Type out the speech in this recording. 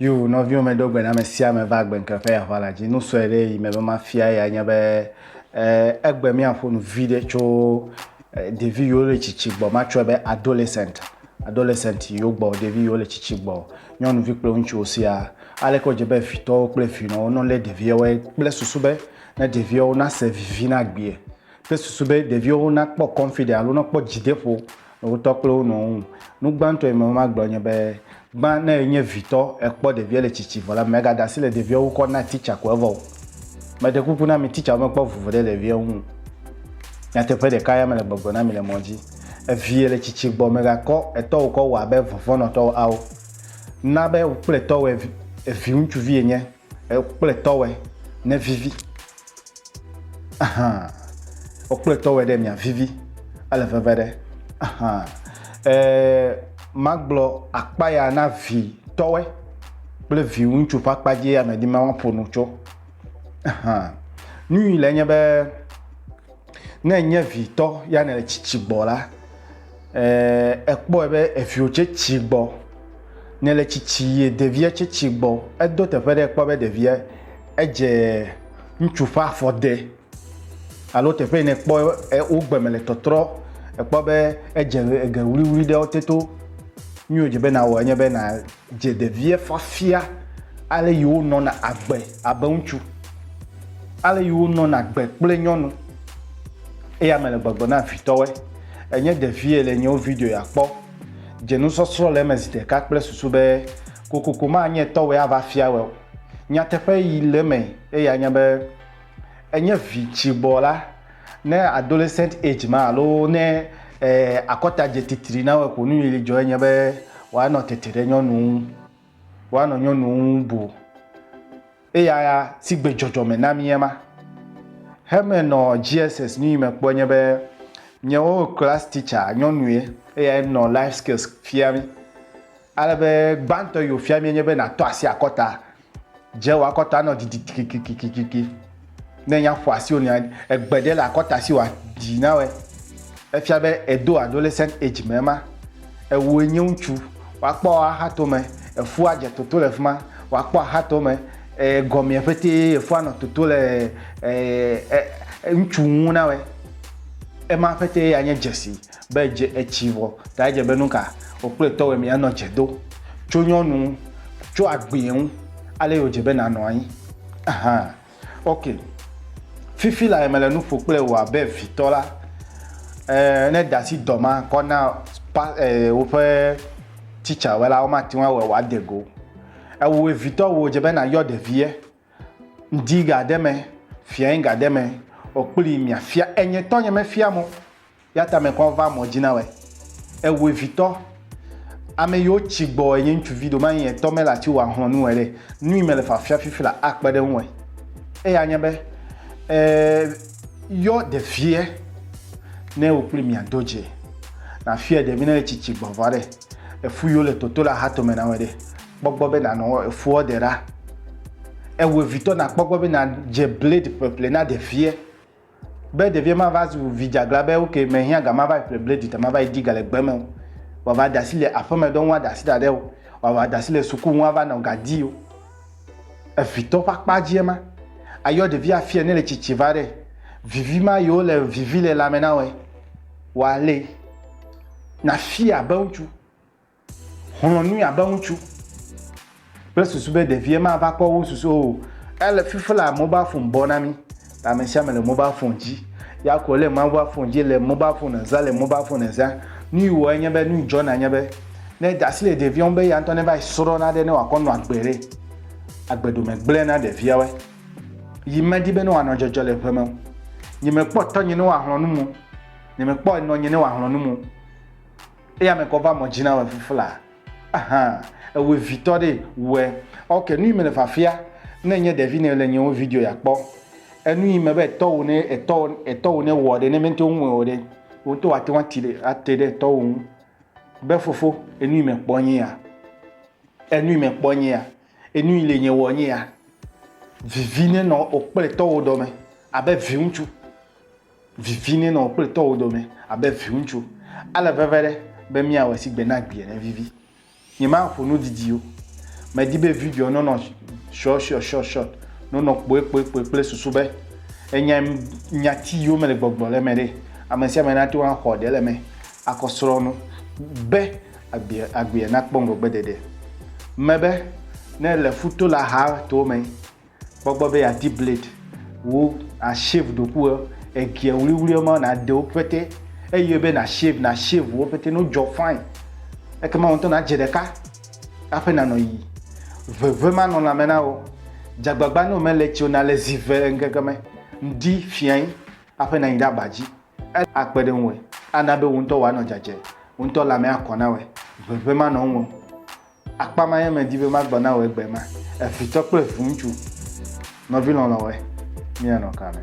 yo nɔviwo me ɖo gbe na ame sia ame va gbe ŋkeƒe aʋa la dzi nu sɔe ɖe yi me be mafia ya nye be eh, egbe míaƒo nu vi ɖe tso ɖevi yiwo le tsitsi gbɔ matsɔe be adolescent adolescent yiwo gbɔ ɖevi yiwo le tsitsi gbɔ nyɔnuvi kple ŋutsuwo siaa aleke wodze be vitɔwo kple vinɔwo no lé ɖeviawoe kple susu be ne ɖeviawo nase vivi na gbie kple susu be ɖeviawo nakpɔ confident alo nakpɔ dzideƒo le wotɔ kple wo nɔwo ŋu nu gbãtɔ yi me magblɔ nye be Gbã ne enye vitɔ ekpɔ ɖevia le tsitsi vɔ la, mègada asi le ɖevia ŋu kɔ na titsa ko evɔ o. Meɖe kuku na mi titsawo mekpɔ vuvu ɖe ɖevia ŋu o. Nyateƒe ɖeka ya mele gbɔgblɔ na mi le mɔ dzi. Eviye le tsitsi gbɔ, mègakɔ etɔwò kɔ wɔ abe vɔvɔ̃nɔtɔwo ao. Na be wò kple etɔwòe viŋutsuvi enye. Wokple tɔwɛ ne vivi. Ahan. Wokple tɔwɛ ɖe mia vivi. Ele veve ɖe. Ahan. Ee, magblɔ akpa ya na vi tɔwɛ kple vi ŋutsu ƒe akpa dzi ya medi ma woaƒo nu tso. Ahan. Nu yi le nye be, ne nye vi tɔ ya nele tsitsi gbɔ la, ekpɔe be eviwo tse tsi gbɔ ne le tsitsi ye ɖevia tse tsi gbɔ. Edo teƒe ɖe ekpɔ be ɖevia edze ŋutsu ƒe afɔ de alo teƒe yi nekpɔ wo gbe me le tɔtrɔ ekpɔ be edze eŋe ʋliʋli ɖe wote to. Nu yi wodze be nawɔ enye be na. dze ɖevia fiafia ale yi wonɔna agbe abe ŋutsu, ale yi wonɔna agbe kple nyɔnu. Eya me le gbɔgblɔ na vitɔwɔe. Enye ɖevie le nyewo video ya kpɔ. Dze nusɔsrɔ̃ le eme zi ɖeka kple susu be kokoko manye tɔwɔe ava fia wɔ o. Nyateƒe yi le eme eya nye be enye vi tsigbɔ la. Ne adolescent age ma alo ne akɔta dze titri na wò ko nuyi dzɔ enye be woanɔ tete ɖe nyɔnu ŋu, woanɔ nyɔnu ŋu bu. Eya si gbe dzɔdzɔme na mi ema. Heme nɔ GSS nuyi me kpɔ nye be nyewo class teacher nyɔnue eyae nɔ life skills fia mi. Ale be gbãtɔ yi wòfia mie nye be nàtɔ asi akɔta. Dze wò akɔta nɔ didi kikikikikiki. Ne nya ƒo asiwò nea, egbe ɖe le akɔta si wòadzi na wòe. Efia be èdo adolescent age me ema. Ewòe nye ŋutsu. Woakpɔ wò axatome. Efua adze toto le fi ma. Wòakpɔ axatome. Ee, gɔmea ƒetee efua anɔ toto le ee ŋutsu ŋu na wòe. Ema ƒetee anye dzesi. Be edze etsi vɔ ta edze be nuka wòkple tɔwɛmee anɔ dze do tso nyɔnu ŋu, tso agbee ŋu, ale wòdze be nànɔ anyi. Aha, ok. Fifi lae mele nu ƒo kple wò abe vitɔ la. E, ne ède asi dɔ ma kɔ na pa, e, woƒe titsawe la, womate ŋu awɔe wòade go. Ewòe vitɔ wòdze be nàyɔ ɖevie. Ŋdi ga ɖe me, fia ŋga ɖe me o kpli mia fia enye tɔ nye me fia mo. Ya ta me kɔ va mɔ dzi na wɛ. Ewe vitɔ. Ame yo tsi gbɔ enye ŋtsuvi ɖo manyi etɔ me la tsi wa hlɔ nu wɛ ɖe. Nui me le fa fia fifi la a kpe ɖe ŋu wɛ. Eya nye be, e yɔ ɖeviɛ ne wo kpli mia do dzi. Na fiɛ ɖevi ne le tsi tsi gbɔ vɔ ɖe. Efu yo le toto la ha tome na wɛ ɖe. kpɔgbɔ be na nɔ efuɔ de ɖa. Ewe vitɔ na kpɔgbɔ be na dje blade ƒleƒle na ɖeviɛ. Be ɖeviɛ ma va zu vi djagla be ok me hiã ga ma va yi ƒle blade ta ma va yi di ga le gbe me o. Wa va ɖasi le aƒeme ɖɔ ŋu a ɖasi ɖaɖɛ o. Wa va ɖasi le suku ŋu a va nɔ ga di o. Evitɔ ƒe akpa djiɛ ma. A yɔ ɖevi a fiɛ ne le tsitsi va ɖɛ. Vivi ma yi wo le vivi le lãme na wɔɛ. Wa le na fiɛ abe ŋutsu. Xlɔ̃ nui abe ŋutsu kple susu be ɖevia mava kpɔ wo susu o. Ele fifi la mobile phone bɔ na mi. Ta ame sia ame le mobile phone dzi. Ya ko le mobile phone dzi le mobile phone zã le mobile phone zã. Nu yi wɔ enye be nu dzɔ na nye be ne da asi le ɖevia ŋu be ya ŋutɔ ne va srɔ̃ na ɖe ne wòakɔ nɔ agbe ɖe. Agbe ɖo megblẽ na ɖeviawe. Yi medi be ne wòanɔ dzɔdzɔ le ʋe me o. Nye mekpɔ tɔnye ne wòahlɔ̃ nu mo. Nye mekpɔ enɔnye ne wòahlɔ̃ nu mo. Eya me kɔ va mɔ dzi na wɛ fufla. Aha, ewe vitɔ ɖe wɛ. Ok, nu yi me le fafia, ne enye ɖevi ne le nye wo video ya kpɔ. Enu yi me be etɔ wo ne etɔ wo etɔ wo ne wɔ ɖe ne me ŋutɔ ŋu wɔ ɖe. Wo ŋutɔ wa te wa ti ɖe ate ɖe etɔ wo ŋu. Be fofo, enu yi me kpɔ nye ya. Enu yi me kpɔ nye ya. Enu yi le nye wɔ nye ya. Vivi ne nɔ o kple etɔ wo dɔ me. Abe vi ŋutsu. Vivi nɛ nɔ wò kple tɔwò dome abe viŋutsu. Ale veve ɖe be míawɔe si gbe na gbi ene vivi. Nyemaƒo nu didi o. Medi be videoa nɔnɔ shɔshɔshɔshɔt, nɔnɔ kpoekpoekpoe kple susu be ènyae nya ti yome le gbɔgblɔ le eme ɖe. Amesiame nate ŋu axɔ ɖe le eme akɔ srɔ̃ nu be agbea nakpɔ ŋgɔgbeɖeɖe. Mebe ne èle ƒuto la haa to me. kpɔ gbɔ be yeadi blade wu ashave ɖoku egia wliwliwo ma nàɖe wo pete eye be nashave nashave wo pete no dzɔ fine ekema wo ŋutɔ nadze ɖeka aƒe nanɔ yi veve ma nɔ lãme na wo dzagbagba ne womele tsi o nale zi ve ŋkeke me ŋdi fiai aƒe nanyi ɖe aba dzi akpe ɖe ŋue ana be wo ŋutɔ woanɔ dzadze wo ŋutɔ lãme akɔ na wɔe veve manɔ ŋue Akpa ma ye medi be magblɔ na wò egbe ma, evitɔ kple viŋutsu. Nɔvi lɔlɔ̃wɔe, míanɔ ka me?